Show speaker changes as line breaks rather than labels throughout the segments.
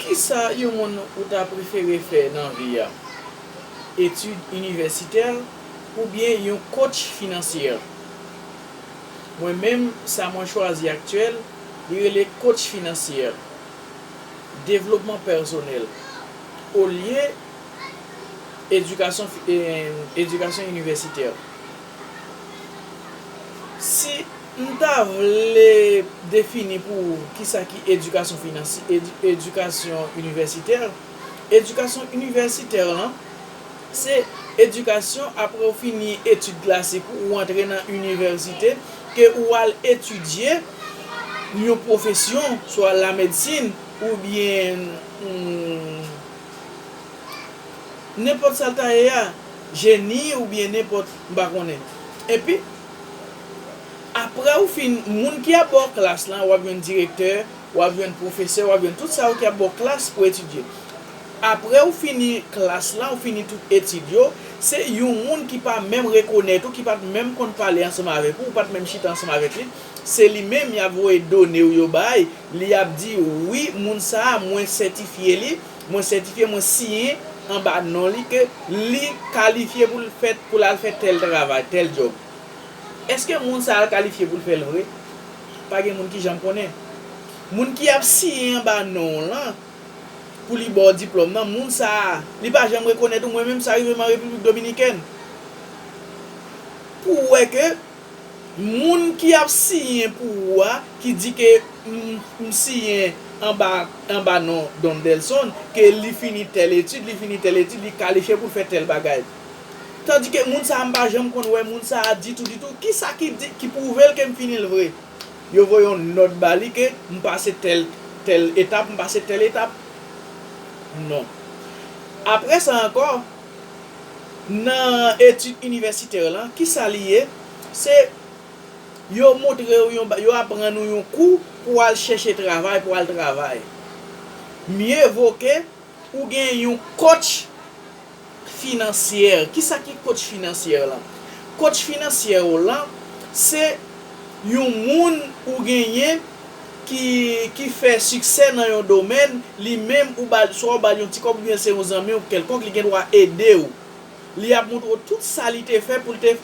Kisa yon moun ou ta prefere fè nan vi a? Etid inivèsitè oubyen yon coach financier? Mwen menm sa mwen chwazi aktyèl li rele coach financier, devlopman pèsonèl olye edikasyon edikasyon inivèsitè. Si. M ta vle defini pou ou kisa ki edikasyon finansy edikasyon inivèsitè. Edikasyon inivèsitè lan se edikasyon apre ou fini etid klasik ou, ou antre nan inivèsite ke ou al etidye yon pwofesyon swa lamedsin oubyen nenpòt sa l ta ye a, jeni oubyen nenpòt m pa konnen. Epi. Aprè ou fin moun ki ap ba w klas lan, w ap jwenn direktè, w ap jwenn pwofesè, w ap jwenn tout sa yo ki ap ba w klas pou etidye. Aprè ou fini klas lan, ou fini tout etid yo, se yon moun ki pa menm rekonèt ou, ki pa t menm konn pale ansanm avèk ou, ou pa t menm chita ansanm avèk li, se li menm y ap voye done ou yo bay, li ap di, wi, moun sa a, mwen sètifye li, Mwen sètifye, mwen siyen anba non li ke li kalifye pou l fè, pou l al fè tèl travay, tèl djòb. Èske moun sa a kalifye pou l fè l vre? Pa gen moun ki janm konnen. Moun ki ap siyen anba non w lan, pou li ba w diplòm nan, moun sa a, li pa janm rekonèt ou, mwen menm sa rive m an Repiblik Dominikèn, pou wè ke. Moun ki ap siyen pou ou a ki di ke m siyen anba anba non Don Delson ke li fini tèl etid li fini tèl etid li kalifye pou l fè tèl bagay tandike moun sa a m pa janm konn wè moun sa a ditou ditou kisa ki di ki pwouve l ke m fini l vre yo voye yon nòt ba li ke m pase tèl tèl etap m pase tèl etap non apre sa ankò nan etid inivèsitè lan, ki sa li ye? Se yo montre ou yon, yo aprann ou yon kou pou w al chèche travay, pou w al travay. Mye vo ke ou gen yon kotch finansyè. Ki sa ki kotch finansyè lan? Kotch finansyè ou lan, se yon moun ou genyen, ki ki fè siksè nan yon domèn, li menm ou ba l swa ou ba l yon ti kòb oubyen se yon zanmi w kèlkonk li gen dwa ede w. Li ap montre w tout sa li te fè pou l te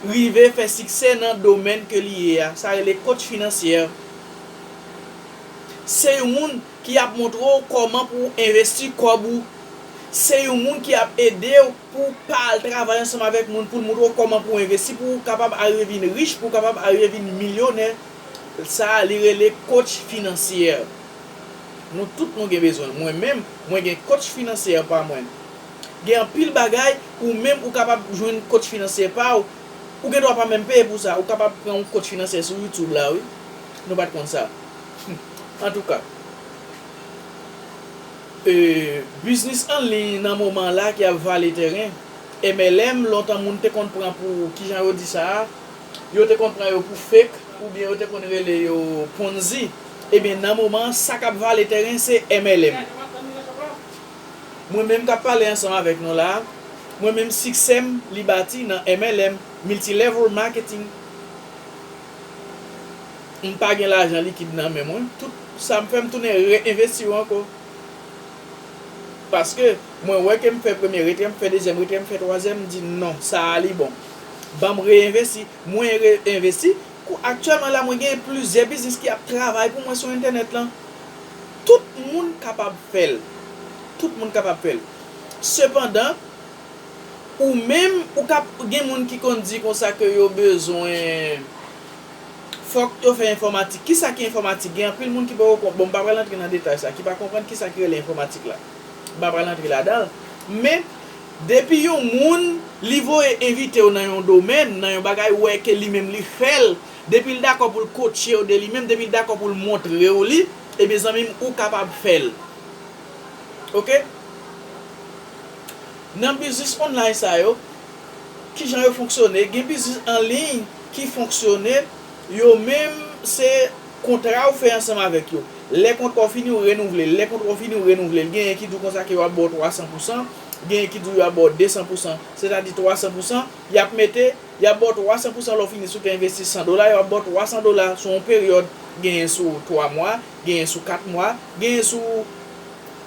rive fè siksè nan domèn ke li ye a. Sa rele coach financier. Se yon moun ki ap montre w kòman pou w envesti kòb ou. Se yon moun ki ap ede w pou w pa al travay ansanm avèk moun pou l montre w kòman pou w envesti pou w kapab arive vin rich, pou w kapab arive vin milyonè. Sa li rele coach financier. Nou tout nou gen bezwen l. Mwen menm, mwen gen coach financier pa mwen. Gen anpil bagay, ou menm ou kapab jwenn coach financier pa w. Ou gen dwa pa menm peye pou sa. Ou kapab pran yon coach financier sou YouTube la wi. Nou pa t konn sa. Antouka, biznis an liy nan moman la ki ap vale tèren. MLM, lontan moun te konn pran pou, kijan yo di sa a? Yo te konn pran yo pou fake oubyen yo te konn rele yo ponzi ebyen nan moman an sa kap vale tèren se MLM mwen menm kap pale ansanm avèk nou la mwen menm siksèm li bati nan MLM multi level marketing m pa gen lajan likid nan men mwen tout sam fè m tounen re envesti yo ankò paske mwen wè kem fè premye retrè m fè dezyèm retrè m fè twazyèm m di non sa a li bon. Banm reinvesti, mwen reinvesti, kou aktyèlman la mwen gen plizyè biznis ki ap travay pou mwen sou entènèt lan. Tout moun kapab fèl. Tout moun kapab fèl. Sepandan, ou menm ou ka gen moun ki konn di konsa ke yo bezwen fòk yo fè enfòmatik. Kisa ki enfòmatik? Gen anpil moun ki poko konprann, bon m pa pral antre nan detay sa, ki pa konprann kisa ki rele enfòmatik la. M pa pral antre ladanl, men Depi yon moun li voye envitew nan yon domèn, nan yon bagay ou wè ke li menm li fèl, depil dakò poul kotchew de li menm, depil dakò poul montrew li, ebyen zanmim ou kapab fèl. Ok. Nan biznis online sa yo, kijan yo fonksyone, gen biznis anliy ki fonksyone, Yo menm, se kontra ou fè ansanm avèk yo. Lè kontra w fini, ou renouvle l. Lè kontra w fini, ou renouvle l. Genyen ki di w konsa ke yo ap ba w 300 pou san, genyen ki di w yo ap ba w 200 pou san, sètadi 300 pou san, y ap mete, y ap ba w 300 pou san lè w fini. Si w te envesti 100 dola, yo ap ba w 300 dola sou yon peryòd, genyen sou 3 mwa, genyen sou 4 mwa, genyen sou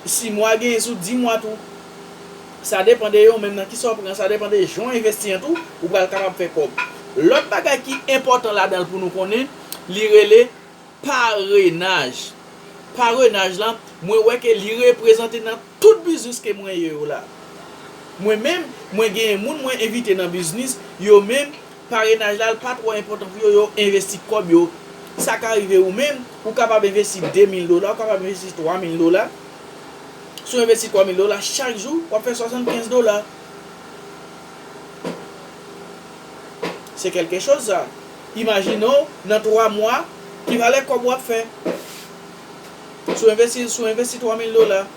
6 mwa, genyen sou 10 mwa tou. Sa depan de yo menm nan kisa w pran, sa depan de jan w envesti an tou, ou pral kapab fè kòb. Lòt bagay ki enpòtan ladan l pou nou konnen, li rele parenaj. Parenaj lan, mwen wè ke li reprezante nan tout biznis ke mwen ye yo la. Mwen menm, mwen genyen moun mwen envite nan biznis, yo menm, parenaj la l pa twò enpòtan pou yo, yo envesti kòb yo. Sa ka rive ou menm, ou kapab envesti 2 mil dola, ou kapab envesti 3 mil dola. Si w envesti 3 mil dola chak jou, w ap fè 75 dola. Se kèlke choz sa. Imajine w nan 3 mwa, ki valè kòb w ap fè. Si w envesti, si w envesti 3 mil dola,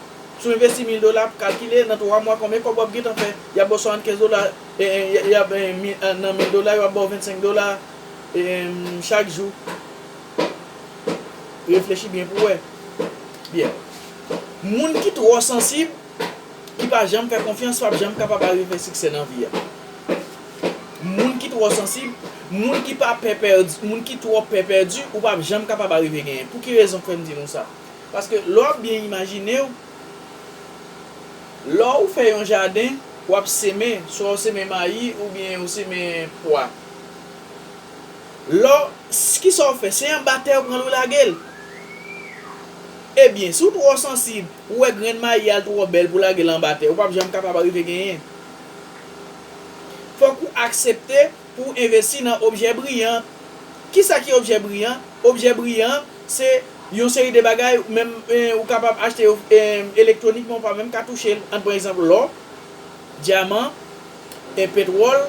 si w envesti mil dola, kalkile nan 3 mwa konbyen kòb w ap gentan fè. Y ap ba w 75 dola, nan mil dola yo ap ba w 25 dola chak jou. Reflechi byen pou wè. Byen. Moun ki twò sansib, ki pa janm fè konfyans pap janm kapab arive siksè nan vi a. Moun ki twò sansib, moun ki pa pè pèdi, moun ki twò pè pèdi, ou pap janm kapab arive genyen. Pou ki rezon fè m di nou sa? Paske lè w ap byen imajine w, lè ou fè yon jaden, w ap seme, swa ou seme mayi oubyen ou seme pwa. Lò, s, kisa w fè? Se anba tè ou pran l ou lage l? Ebyen, si w twò sansib, ou wè grenn mayi a l twò bèl pou w lage l anba tè, ou p ap janm kapab arive genyen. Fòk ou aksepte pou w envesti nan objè briyan. Kisa ki objè briyan? Objè briyan, se yon seri de bagay, menm, ou kapab achte yo, elektwonikman ou pa menm ka touche l. An n pran egzanp lò. Dyaman, en petwòl,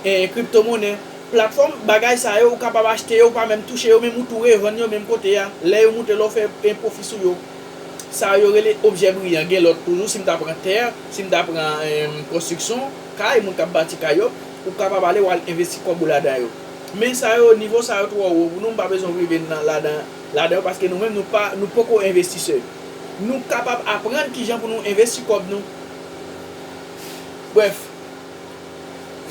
en en kriptomonè. Platfòm, bagay sa yo ou kapab achte yo ou pa menm touche yo menm ou tou revann yo menm kote a. Lè yo moute la ou fè en pwofi sou yo. Sa yo rele objè briyan. Gen lòt toujou si m ta pran tè, si m ta pran en konstriksyon, kay, moun k ap bati kay yo, ou kapab ale w al envesti kòb ou ladan yo. Men sa yo nivo sa yo twò wo pou nou m pa bezwen rive nan ladan ladan yo paske nou menm nou pa nou poko envestisè. Nou kapab aprann kijan pou nou envesti kòb nou. Brèf,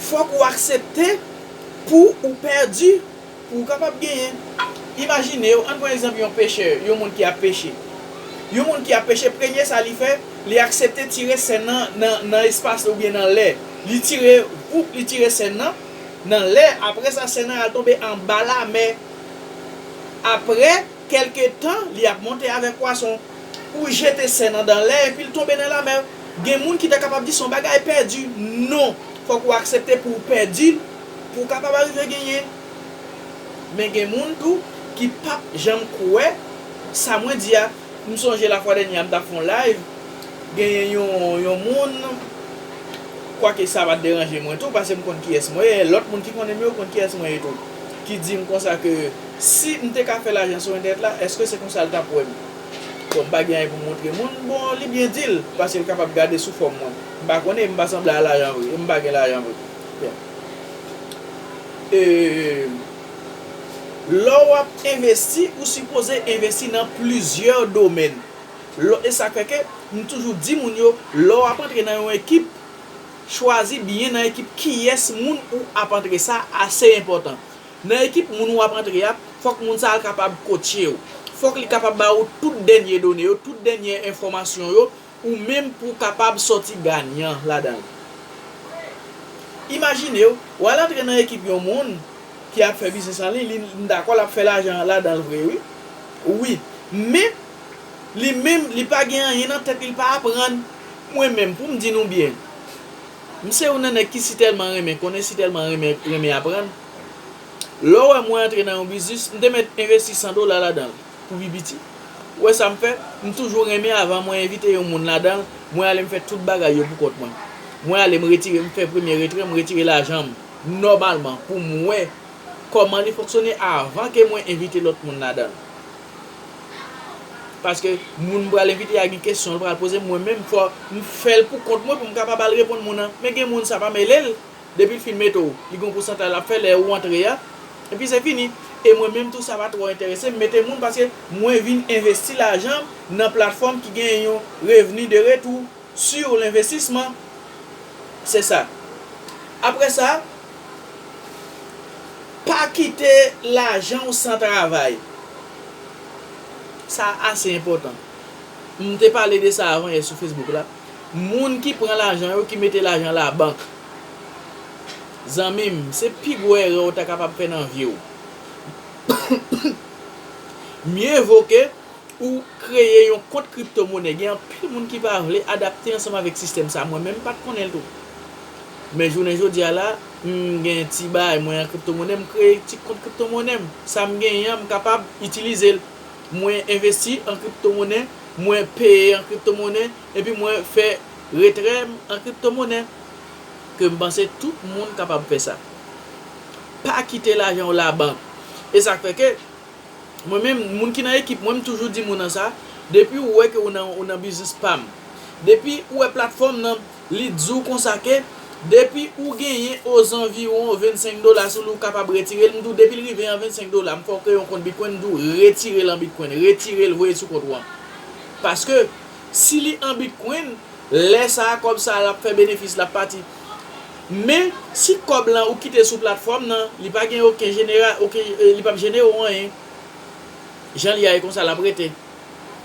fòk ou aksepte pou ou pèdi pou ou kapab genyen. Imajine ou, ann pran egzanp yon pechè, yon moun ki ap peche. Yon moun ki ap peche, premye sa li fè, li aksepte tire sèn nan nan espas oubyen nan lè. Li tire, voup, li tire sèn nan nan lè. Apre sa, sèn nan al tonbe anba lamè. Apre kèlke tan, li ap monte avèk pwason. ou jete sè nan dan lè epi l tonbe nan lamè. Gen moun ki ta kapab di se yon bagay pèdi. Non, fòk ou aksepte pou w pèdi l pou w kapab arive genyen. Men gen moun tou ki p ap janm kwè sa mwen di a. M sonje lafwa dènye a m t ap fè yon layv, genyen yon moun, kwake sa pa t deranje mwen tou paske m konn kiyès mwen ye, lòt moun ki konnen m yo konn kiyès mwen ye tou, ki di m konsa ke Si m te ka fè lajan sou entènèt la, èske se konsa l t ap wè m? Bon, m pa gen anyen pou m montre moun. Bon, li byen di l, paske l kapab gade sou fòm mwen. M pa konnen e m pa sanble a lajan vre, e m pa gen lajan vre. Bon. E, lè w ap envesti, ou sipoze envesti nan plizyè domèn. Lò, e sa fè ke m toujou di moun yo, lè w ap antre nan yon ekip, chwazi byen nan ekip kiyès moun ou ap antre. Sa ase enpòtan. Nan ekip moun ou ap antre a, fòk moun sa a kapab kotche ou. Fòk li kapab ba ou tout dènye done yo, tout dènye enfòmasyon yo, ou menm pou w kapab sòti ganyan ladan l. Imajine w, w al antre nan ekip yon moun ki ap fè biznis an liy, li, m dakò l ap fè lajan ladan l vre wi, wi, men, li menm, li pa gen anyen nan tèt li, li pa aprann. Mwen menm, pou m di nou byen. M se yon nan nèg ki sitèlman renmen konnen sitèlman renmen renmen aprann. Lè w wè mwen antre nan yon biznis, m te mèt envesti 100 dola ladan l pou pi piti. Ou wè sa m fè? M toujou renmen avan mwen envite yon moun ladan l, mwen ale m fè tout bagay yo poukont mwen. Mwen ale m retire m fè premye retrè, m retire lajan m nòmalman pou m wè kòman li fonksyone avan ke mwen envite lòt moun ladan l. Paske moun m pral envite a gen kesyon l pral poze m mwen menm fò m fè l pou kont mwen pou m kapab al reponn moun nan. Men gen moun sa pa mele l, depi l fin mete w li gen yon pousantaj l ap fè lè ou antre a, epi se fini. E mwen menm tou sa pa twò enterese m mete moun paske mwen vin envesti lajan m nan platfòm ki gen yon revni de retou. Sur l'investissement c'est ça après ça pa kite lajan w san travay sa ase enpòtan m te pale de sa avan yè sou Facebook la moun ki pran lajan yo ki mete lajan la bank zanmi m se pi gwo erè w ta kapab fè nan vi w mye vo ke Ou kreye yon kont kripto monè gen anpil moun ki pa vle adapte ansanm avèk sistèm sa mwen menm m pat konnen l tou men jounen jodi a la m gen ti bay mwen an kripto monè m kreye ti kont kripto monè m sa m genyen an m kapab itilize l mwen envesti an kripto monè mwen peye an kripto monè epi mwen fè retrè m an kripto monè ke m panse tout moun kapab fè sa pa kite lajan w labank e sa k fè ke Mwen menm, moun ki nan ekip mwen, m toujou di moun an sa, depi ou wè ke ou nan ou nan biznis pam, depi ou wè platfòm nan li di w konsa ke depi ou genyen ozanviwon 25 dola sou li ou kapab retire l, m di w depi l rive an 25 dola m fè w kreye yon kont bitcoin m di w retire l an bitcoin, retire l voye l sou kont ou an. Paske si li an bitcoin, lè sa kòb sa lap fè benefis lap pati. Men, si kòb lan ou kite sou platfòm nan, li pa gen oken jenera, oken, li pap jene ou anyen. Jan li a e konsa lap rete.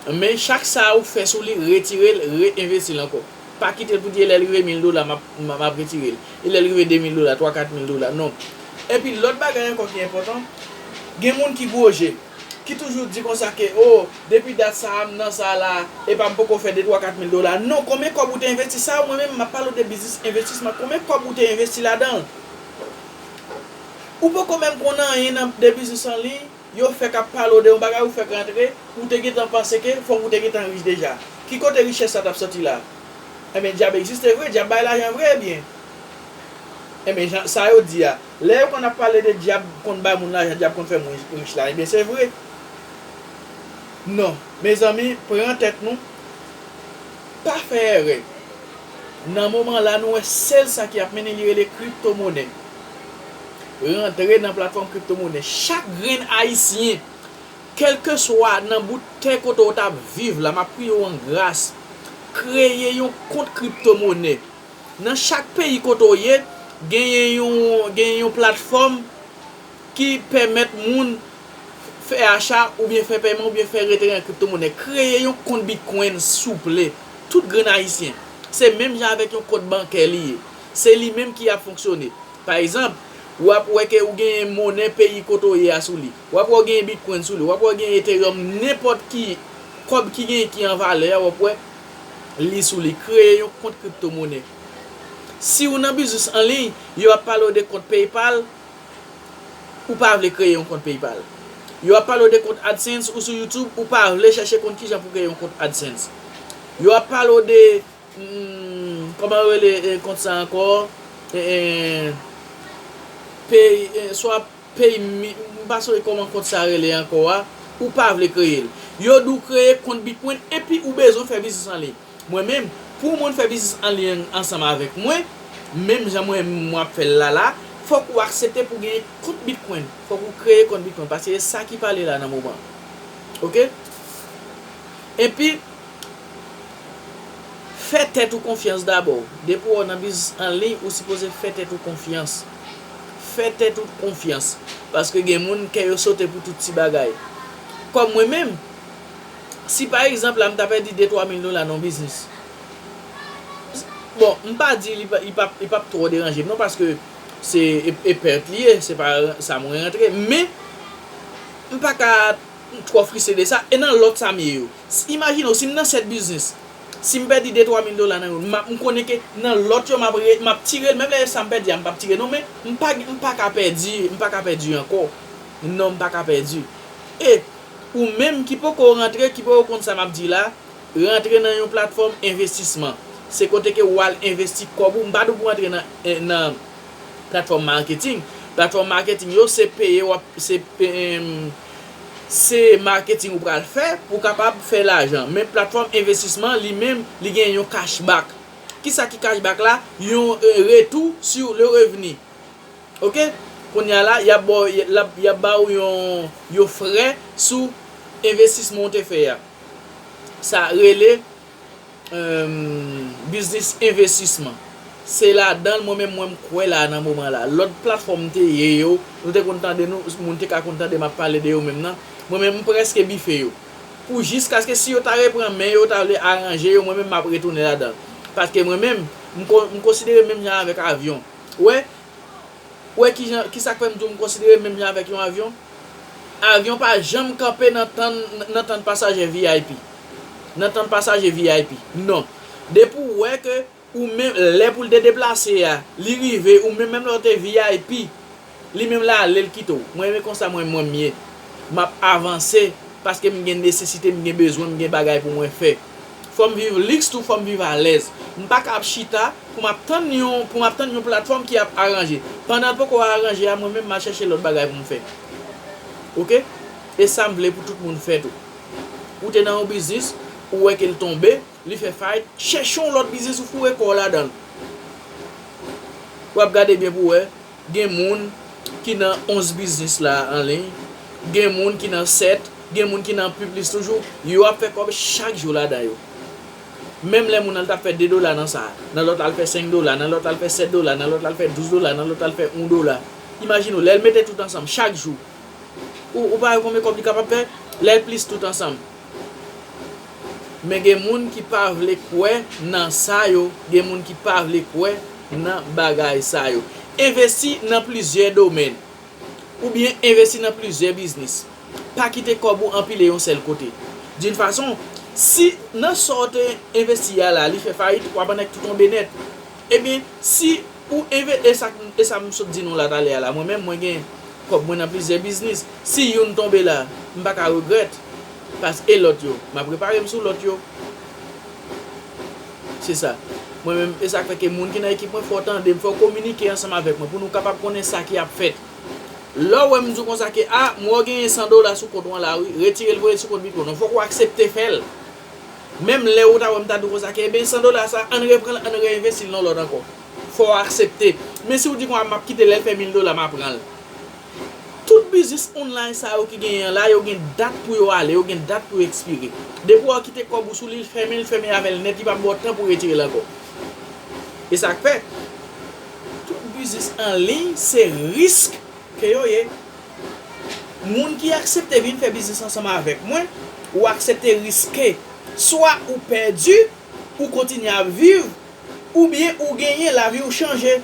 Men, chak sa ou fè sou li, retire l, re-envesti l ankò. Pa kite l pou di e lè l rive 1000 dola map, map retire l. E lè l rive 2000 dola, 3, 4000 dola. Non. Epi lòt bagay ankò ki enpòtan, gen moun ki gwo je, ki toujou di konsa ke, o, Depi dat sa a m nan sa la a epa m poko fè de twa kat mil dola non konbyen kòb ou te envesti sa a mwen menm map pale w de biznis envestisman konbyen kòb ou te envesti ladan l ou poko menm konn anyen nan de biznis an liy yo fèk ap pale w de yon bagay ou fèk rantre ou te gentan panse ke fòk ou te gentan rich deja ki kote richès sa tap sòti la enben dyab egziste vre dyab bay lajan vre ebyen enben jan sa yo di a lè yo konn ap pale de dyab konn bay moun lajan dyab konn fè moun rich la ebyen se vre. Non mezanmi pran tèt nou pa fè èrè nan moman la nou wè sèl sa ki ap mennen li rele kripto monè rantre nan platfòm kripto monè chak grenn ayisyen kèlkeswa nan bout tè kote ou tap viv la map priye w an gras kreye yon kont kripto monè nan chak peyi kote ou ye genyen yon genyen yon platfòm ki pèmèt moun. fè acha oubyen fè pèman oubyen fè retire nan kripto monè kreye yon kont bitcoin souple tout grenn ayisyen se menm jan avèk yon kont bankè li ye se li menm ki ap fonksyone pa egzanp wap wè ke ou genyen monè peyi kote ou ye a sou li wap wè ou genyen bitcoin sou li wap wè ou genyen ethereum nenpòt ki kòb ki genyen ki an valè a wap wè li sou li kreye yon kont kripto monè siw nan biznis anliy yo ap pale ou de kont paypal ou pa vle kreye yon kont PayPal. Yo ap pale w de kont AdSense ou sou YouTube ou pa vle chèche konn kijan pou kreye yon kont AdSense. Yo ap pale w de kòman yo rele kont sa ankò swa PayMe m pa sonje kòman kont sa rele ankò a ou pa vle kreye l. Yo di w kreye kont Bitcoin epi ou bezwen fè biznis anliy. Mwen menm, pou yon moun fè biznis an liy ansanm avèk mwen, menm jan mwen menm mwen ap fèl la la, fòk ou aksepte pou gen kont bitcoin, fòk ou kreye kont bitcoin paske se sa ki pale la nan moman an. Ok. Epi fè tèt ou konfyans dabò, depi wè w nan biznis an liy ou sipoze fè tèt ou konfyans, fè tèt ou konfyans paske gen moun kè yo sote pou tout ti bagay kòm mwen menm, si pa egzanp la m ta pèdi de twa mil dola nan yon biznis, bon m pa di li p ap twò deranje m non paske se e pèt li ye, se pa sa mwen rantre men m pa ka twò fristre de sa e nan lòt sa m ye yo imajine w si m nan 7 biznis si m pèdi de twa mil dola nan youn m konnen ke nan lòt yo m ap m ap tire l menm lè sa m pèdi a m p ap tire non men m pa ka pèdi m pa ka pèdi ankò non m pa ka pèdi e Ou menm ki poko rantre, ki poko konn sa m ap di la, rantre nan yon platfòm envestisman. Se kote ke ou al envesti kòb ou. M pa di w pou w antre nan platfòm marketing. Platfòm marketing yo se peye w ap, se se marketing ou pral fè pou w kapab fè lajan. Men platfòm envestisman li menm, li gen yon cashback. Kisa ki cashback la? Yon retou sur le revenu. Ok Konya la yap ba w lap yap ba w yon yon frè sou envestisman w te fè a sa rele emm biznis envestisman se ladan l mwen menm mwen m kwè la nan moman la lòt platfòm te ye yo nou te konn tande nou moun te ka konn tande map pale de yo menm nan mwen menm m prèske bife yo pou jiskaske si yo ta repran men yo ta vle aranje yo mwen menm map retounen ladan l paske mwen menm m konsidere menm jan avèk avyon. Wè, wè ki jan, ki sa k fè m di w m konsidere menm jan avèk yon avyon? Avyon pa janm kanpe nan tann, nan tann pasajè vip. Nan tann pasaje vip. Non. Depi w wè ke ou menm, lè pou l te deplase a, li rive, ou menm, menm lè w te vip, Li menm la ale l kite w. Mwen renmen konsa mwen mwen m ye. M ap avanse paske m gen nesesite, m gen bezwen, m gen bagay pou mwen fè. Fò m viv liks tou fò m viv alèz. M pa ka ap chita pou m ap tann yon pou m ap tann yon platfòm ki ap aranje. Pandan l poko aranje a mwen menm m al chèche lòt bagay pou m fè. Ok? E sa m vle pou tout moun fè tou. Ou te nan yon biznis, ou wè ke l tonbe, li fè fayit, chèche yon lòt biznis ou foure kò w ladan l. W ap gade byen pou w wè Gen moun ki nan 11 biznis la an liy, gen moun ki nan 7, gen moun ki nan pi plis toujou, yo ap fè kòb chak jou ladan yo. Menm lè moun al ta fè 2 dola nan sa, nan lòt la al fè 5 dola, nan lòt la al fè 7 dola, nan lòt la al fè 12 dola, nan lòt la al fè 1 dola. Imajine w, lè l mete tout ansanm chak jou, ou pa wè konbyen kòb li kapab fè? Lè l plis tout ansanm. Men gen moun ki pa vle kwè nan sa yo, gen moun ki pa vle kwè nan bagay sa yo. Envesti nan plizyè domèn oubyen envesti nan plizyè biznis. Pa kite kòb ou anpile yon sèl kote. D'une façon, si nan sa w te envesti a la li fè fayit, w ap annik tou tonbe nèt. Ebyen, si Ou enve e sak e sa m sot di nou la talè a la mwen menm mwen gen kòb mwen nan plizyè biznis si youn tonbe la m pa ka regrèt pas e lòt yo m ap repare m sou lòt yo se sa mwen menm e sak fè ke moun ki nan ekip mwen fò w tande m fò w kominike ansanm avèk mwen pou nou kapab konnen sa ki ap fèt lè w wè m di w konsa ke a m wè w genyen 100 dola sou kont ou an la wi retire l voye l sou kont Bigo nan fòk ou aksepte fè l. Menm lè ou ta wèm ta di w konsa ke ebyen 100 dola sa ann repran l ann re envesti l nan lòt ankò. Fò w aksepte. Men si w di konsa map kite l lè l fè 1000 dola ma pran l. Tout biznis online sa yo ki genyen an la yo gen dat pou yo ale, yo gen dat pou yo ekspire. Depi w kite kòb ou sou li l fèmen l fèmen avè l nèt li pap ba w tan pou retire l ankò. E sak fè tout biznis anliy se risk Ke yo ye Moun ki aksepte vin fè biznis ansanm avèk mwen, ou aksepte riske. Swa ou pèdi, ou kontinye ap viv, oubyen ou genyen, lavi ou chanje.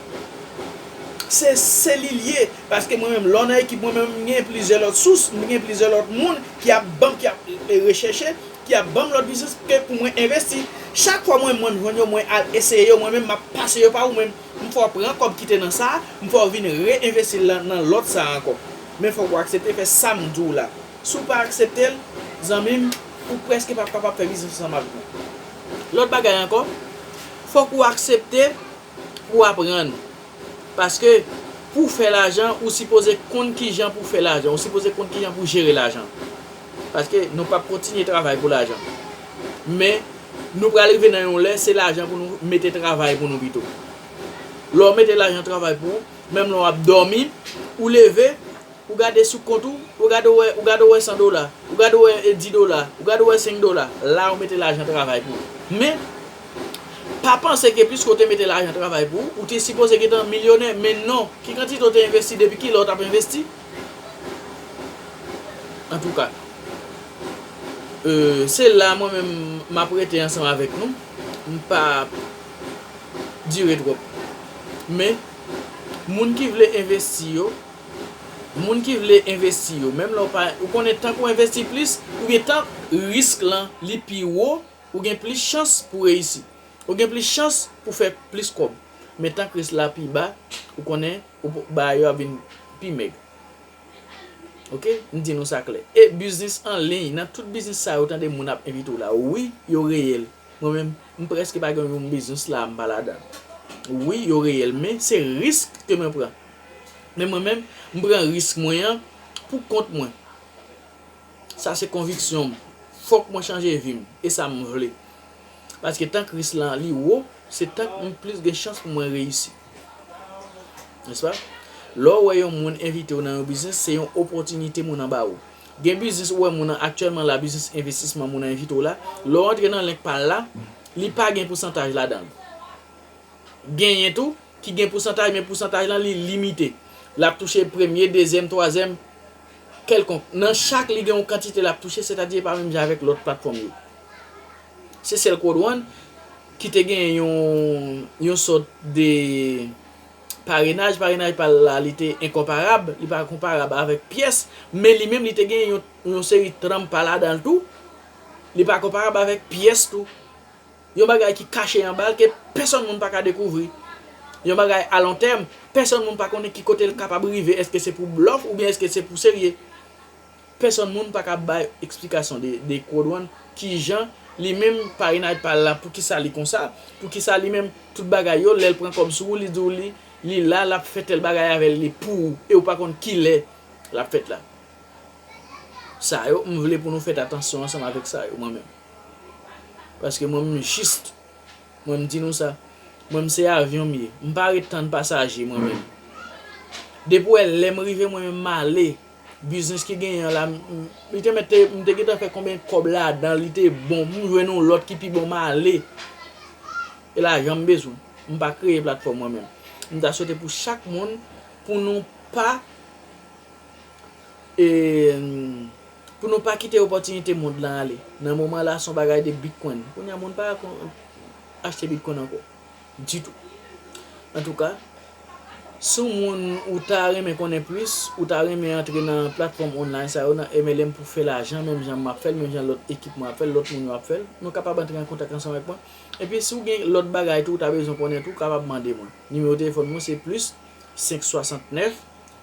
Se se li l ye. Paske mwen menm, lè w nan ekip mwen menm, m gen plizyè lòt sous, m gen plizyè lòt moun ki ap ban m, ki ap rechèche, ki ap ban m lòt biznis ke pou mwen envesti. Chak fwa mwen menm m jwenn yo, mwen al eseye yo mwen menm, m ap pase yo pa ou menm. M fè w pran kòb ki te nan sa, m fè w vin re-envesti l nan lòt sa ankò. Men fòk ou aksepte fè sa m di w la. Si w pa aksepte l, zanmi m, ou prèske p ap kapab fè biznis ansanm avèk mwen. Lòt bagay ankò, fòk ou aksepte pou w aprann. Paske, pou w fè lajan, ou sipoze konn kijan pou w fè lajan, ou sipoze konn kijan pou w jere lajan. Paske nou pap kontinye travay pou lajan. Men, nou pral rive nan yon lè, se lajan pou nou mete travay pou nou pito. Lè w mete lajan travay pou ou, menm lè w ap dòmi, ou leve, ou gade sou kont ou, ou gade w wè, ou gade w wè 100 dola, ou gade w wè 10 dola, ou gade w wè 5 dola, la ou mete lajan travay pou ou. Men, pa panse ke piske w te mete lajan travay pou ou, ou te sipoze gentan milyonè, men non, ki kantite w te envesti, depi ki lè w t ap envesti? Antouka euh se la mwen menm map rete ansanm avèk nou m pap dire twòp men moun ki vle envesti yo moun ki vle envesti yo menm lè w pa ou konnen tank ou envesti plis oubyen tank risk lan li pi wo ou gen plis chans pou reyisi ou gen plis chans pou fè plis kòb men tank risk la pi ba ou konnen ou pou bagay yo ap vin pi mèg. Ok, m di nou sa klè. E biznis an liy, nan tout biznis sa yo tande moun ap envite w la, wi, yo reyèl. Mwen menm, m prèske pa gen yon biznis la a m pa ladan l. Wi, yo reyèl, men se risk ke mwen pran. Men mwen menm, m pran risk mwen an pou kont mwen. Sa se konviksyon m. Fòk mwen chanje vi m. E sa m vle. Paske tank risk lan li wo, se tank m plis gen chans pou mwen reyisi. N'est-ce pas? Lè ou wè yon moun envite ou nan yon biznis, se yon opòtinite moun an ba ou. Gen biznis ou wè moun an aktyèlman la, biznis envestisman moun an envite ou la, lè ou antre nan link pa l la, li pa gen pousantaj ladan l. Genyen tou ki gen pousantaj men pousantaj lan li limite. L ap touche premye, dezyèm, twazyèm. kèlkonk, nan chak li gen yon kantite lap touche, sètadi e pa menm jan avèk lòt platfòm yo. Se sèl Code One ki te gen yon yon sòt de parenaj, parenaj pa l la li te enkonparab, li pa konparab avèk pyès, men li menm li te gen yon seri tranmpa ladan l tou, li pa konparab avèk pyès tou. Yon bagay ki kache anba l ke pèsòn moun pa ka dekouvri. Yon bagay a lon tèm, pèsòn moun pa konnen ki kote l kapab rive eske se pou blòf oubyen eske se pou serye. Pèsòn moun pa ka bay eksplikasyon de Quodwan kijan li menm pa Inayt pa la poukisa li konsa, poukisa li menm tout bagay yo lè l pran kòb sou ou li di w li li la l ap fè tèl bagay avè l li pou ou e ou pa konn kilè l ap fèt la. Sa yo m vle pou nou fèt atansyon ansanm avèk sa yo mwen menm. Paske mwen menm jist, mwen m di nou sa, mwen m se avyon m ye, m pa ret tann pasaje mwen menm. Depi w wè lè m rive mwen menm m ale, biznis ki genyen an la, li te mèt, m te gentan fè konbyen kòb ladan, li te bon, m jwenn yon lòt ki pi bon m ale. E lajan m bezwen, m pa kreye platfòm mwen menm. M ta swete pou chak moun, pou nou pa E pou nou pa kite opòtinite mond lan ale. Nan moman la son bagay de bitcoin. Kounya moun pa achte bitcoin ankò. Ditou. Antouka, si w moun ou ta renmen konnen plis, ou ta renmen antre nan platfòm online sa yo nan MLM pou fè lajan menm jan map fèl, menm jan lòt ekip mwen ap fèl, lòt moun yo ap fèl, nou kapab antre an kontak ansanm avèk mwen. Epi si w gen lòt bagay tou ou ta bezwen konnen tou, ou kapab mande mwen. Nimewo telefòn mwen se plis 569.